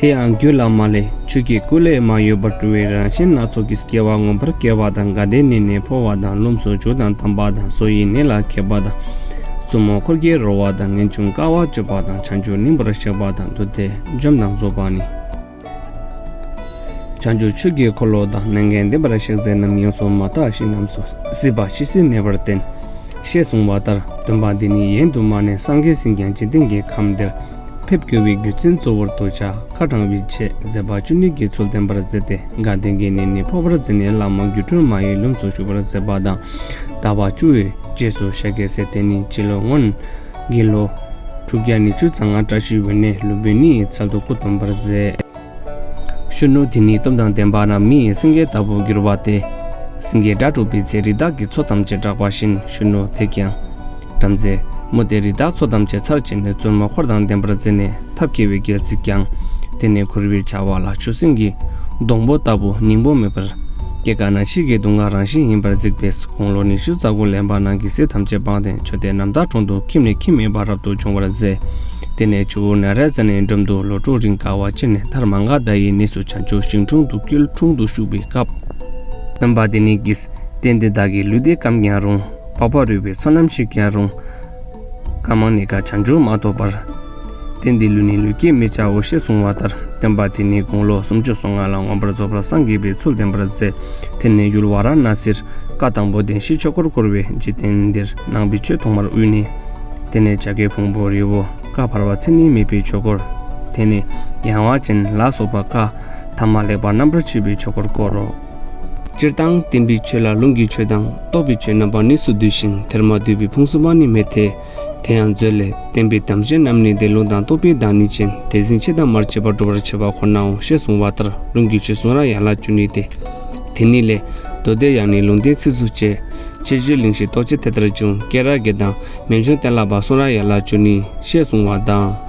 དེ་ཡང་རྒྱུད་བླ་མ་ལས་ཆོས་ཀྱི་སྐུ་ལས་མ་གཡོས་པར་སྤྲུལ་བའི་རང་བཞིན་སྣ་ཚོགས་ཀྱིས་སྐྱེ་བ་ངོམས་པར་སྐལ་བ་དང་དགའ་བདེ་གནས་ནས་འཕོ་བ་དང་རློམ་སོ་ཆུ་དང་དམ་པ་དང་སོ་ཡི་གནས་ལ་ཁད་པ་དང། བཙུན་མོ་འཁོར་གྱི་རོལ་བ་དང་ངེས་འབྱུང་དཀའ་བ་སྤྱོད་པ་དང་བྱང་ཆུབ་སྙིང་པོར་གཤེགས་པ་དང་འདུ་འཐད་འཇོམས་དང་རྫོགས་པ་ནི། བྱང་ཆུབ་ཆོས་ཀྱི་འཁོར་ལོ་དང་མན་ངག་འདི་པར་གཤེགས་མཛད་རྣམས་ཡོངས་སུ་མ་དག་བཞིན་རྣམས་སུ་སྲིད་པ་ཇི་སྲིད་གནས་པར་བསྟན། ཞེས་གསུངས་པ་ལྟར་འདོན་པ་འདི་ནི་ཡན་དུ་མ་ནས་སངས་རྒྱས་ཟིན་ཀྱང་འཇིག་རྟེན་གྱི་ཁམས་འདིར་ཕེབས་བསྐྱོད་པའི་རྒྱུ་མཚན་གཙོ་བོར་དུ་བྱ་དཀའ་དྲང་བའི་ཆེད་མཛད་པ་བཅུ་གཉིས་ཀྱི་ཚུལ་བསྟན་པར་མཛད་དེ་དགའ་ལྡན་གྱི་གནས་ནས་འཕོ་བར་མཛད་ནས་བླ་མ་སྒྱུ་འཕྲུལ་མ་ཡི་ལུམས་སུ་བཞུགས་པར་མཛད་པ་དང། དར་བ་བཅུ་བའི་རྗེས་སུ་ཤཱཀྱའི་སྲས་དེ་ནི་སྤྱི་ལོ་སྔོན། དགེ་ལོ། དྲུག་བརྒྱ་ནི་ཆུ་ཚང་བཀྲ་ཤིས་འོད་ནས་ལུས་པོའི་ནི་ཚ་སྡུག་པོ་སྡོམ་པར་མཛད། གཞོན་ནུ་དེ་ནི་སྟོབས་དང་ལྡན་པ་ན་མིའི་སེང་གེ་ལྟ་བུར་གྱུར་པ་སྟེ། སེང་གེའི་སྒྲ་སྒྲོགས་པའི་ཚེ་རི་དྭགས་ཀྱི་ཚོགས་ཐམས་ཅད་སྐྲག་པ་བཞིན་གཞོན་ནུ་དེས་ཀྱང། བྲམ་ཟེ། མོ་དེ་རི་དྭགས་ཚོགས་ཐམས་ཅད་ཚར་བཅད་ནས་བཙུན་མོ་འཁོར་དང་ལྡན་པར་མཛད་ནས། ཐབས་སྐྱེ་བའི་རྒྱལ་སྲིད་ཀྱང། དེ་ནས་ཁུར་བའི་བྱ་བ་ལ་ཆུ་སྲིན་གྱི། སྡོང་པོ་ལྟ་བུ་སྙིང་པོ་མེད་པར། སྐྱེ་རྒ་ན་འཆིའི་གེགས་དུག་ལྔ་རང་བཞིན་ཡིན་པར་གཟིགས་པས་དགུང་ལོ་ཉི་ཤུ་རྩ་དགུ་ལེན་པ་ནང་གི་སྲིད་ཐམས་ཅད་སྤངས་ཏེ་མཆོད་རྟེན་རྣམ་དག་དྲུང་དུ་ཁྱིམ་ནས་ཁྱིམ་མེད་པར་རབ་ཏུ་བྱུང་བར་མཛད། དེ་ནས་ཆུ་བོ་ནཱ་རའི་རྩེ་ནས་འགྲམ་དུ་ལོ་དྲུག་རིང་དགའ་བ་ཆེ་ནས་དྷརྨ་མངའ་བདག་ཡི་གནས་སུ་བྱང་ཆུབ་ཤིང་དྲུང་དུ་སྐྱིལ་ཀྲུང་དུ་བཞུགས་པའི་སྐབས། རྣམ་པ་དེ་ནི་ཀྱིས། རྟེན་འདི་བདག་གི་ལུས་བདེ་སྐམ་ཀྱང་རུང། པགས་པ་རུལ་བའི་ཚོགས་ནམ་ཞིག་ཀྱང་རུང། བཀའ་མང་ནི་བཀའ་བྱང་ཆུང་མ་གཏོགས་པར། རྟེན་འདི་ལུས་ནི་ལུས་སྐྱེད་མི་བྱའོ་ཞེས་གསུངས་བ་ལྟར་བསྟན་པ་དེ་ནི་དགུང་ལོ་སུམ་ཅུ་སོ་ལྔ་ལ་ངོམས་པར་རྫོགས་པར་སངས་རྒྱས་པའི་ཚུལ་བསྟན་པར་མཛད། དེ་ནས་ཡུལ་བ་ར་ན་སིར་བཀའ་དང་པོ་བདེན་བཞིའི་ཆོས་འཁོར་བསྐོར་བས་འཇིག་རྟེན་འདིར་ནང་པའི་ཆོས་ཐོག་མར་དབུས་ནས། དེ་ནས་བྱ་དཀའི་ཕུང་པོ་རི་བོ་ཀ་བར་བ་ཚེ་ནི་མེད་པའི་ཆོས་འཁོར། དེ་ནས་ཡང་བ་ཅན་ལ་སོགས་པ་ཀ་དྷ་མ་ལེགས་པར་རྣམ་པར་ཕྱེ་བའི་ཆོས་འཁོར་བསྐོར་རོ། སྤྱིར་བཏང་བསྟན་པའི་ཆོས་ལ་ལུང་གི་ཆོས་དང་རྟོགས་པའི་ཆོས་རྣམ་པ་གནས་སུ་འདུས་ཤིང་དེར་མ་འདུས་པའི་ཕུང་གསུམ་པ་ནི་མེད་དེ། དེ་ཡང་མཛོད་ལས། བསྟན་པའི་དམ་ཅན་རྣམས་ནི་དེ་ལུང་དང་རྟོགས་པའི་བདག་ཉིད་ཅན་དེ་ཟིན་བྱེད་དང་མར་བྱེད་པར་སྒྲུབ་པར་བྱེད་པ་ཁོ་ནའོ་ཞེས་གསུངས་པ་ལྟར་ལུང་གི་ཆོས་གསུང་ར་ཡན་ལག་བཅུ་ནི་སྟེ། དེ་ཉིད་ལས། མདོ་སྡེ་ཡང་ནི་ལུང་བསྟན་ཚིགས་སུ་བཅད། ཕྱིར་བཅོས་གླིང་བཞི་རྟོགས་བྱེད་དེ་ལྟར་འབྱུང་སྐད་ར་དགེ་དང་མན་ཆུང་བསྟན་ལ་བ་གསུང་ར་ཡན་ལག་བཅུ་ནི་ཞེས་གསུངས་བ་དང།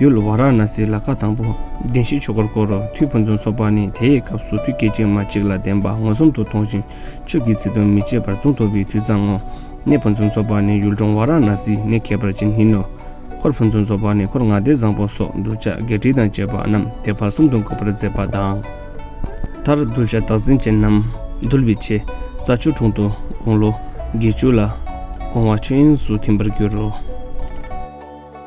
ཡུལ་བ་ར་ན་སིའི་ལ་ཁ་དང་པོ་བདེན་བཞིའི་ཆོ་གར་བསྐོར་རོ་མཐུའི་ཕུན་སུམ་ཚོགས་པ་ནི་དེའི་སྐབས་སུ་མཐུ་སྐྱེད་ཅིང་མ་གཅིག་ལ་བདེན་པ་མངོན་སུམ་དུ་མཐོང་ཞིང་ཆོས་ཀྱི་ཚིག་དོན་མི་བརྗེད་པར་མཚུངས་ཐོབ་པའི་དུས་ཙམ་མོ། གནས་ཕུན་སུམ་ཚོགས་པ་ནི་ཡུལ་འབྲོང་བ་ར་ན་སིའི་གནས་ཁྱད་པར་ཅན་ཡིན་ནོ། འཁོར་ཕུན་སུམ་ཚོགས་པ་ནི་འཁོར་ལྔ་སྡེ་བཟང་པོ་སོགས་གདུལ་བྱ་བརྒྱད་ཁྲི་དང་བཅས་པ་རྣམས་དེ་བར་གསུམ་དུ་འགོད་པར་མཛད་པ་དང། མཐར་གདུལ་བྱ་བདག་འཛིན་ཅན་རྣམས་འདུལ་བའི་ཆེད་རྩྭ་ཆུ་དྲུང་དུ་དགུང་ལོ་བརྒྱད་ཅུ་ལ་དགོངས་བ་ཆོས་དབྱིངས་སུ་ཐིམ་པར་འགྱུར་རོ།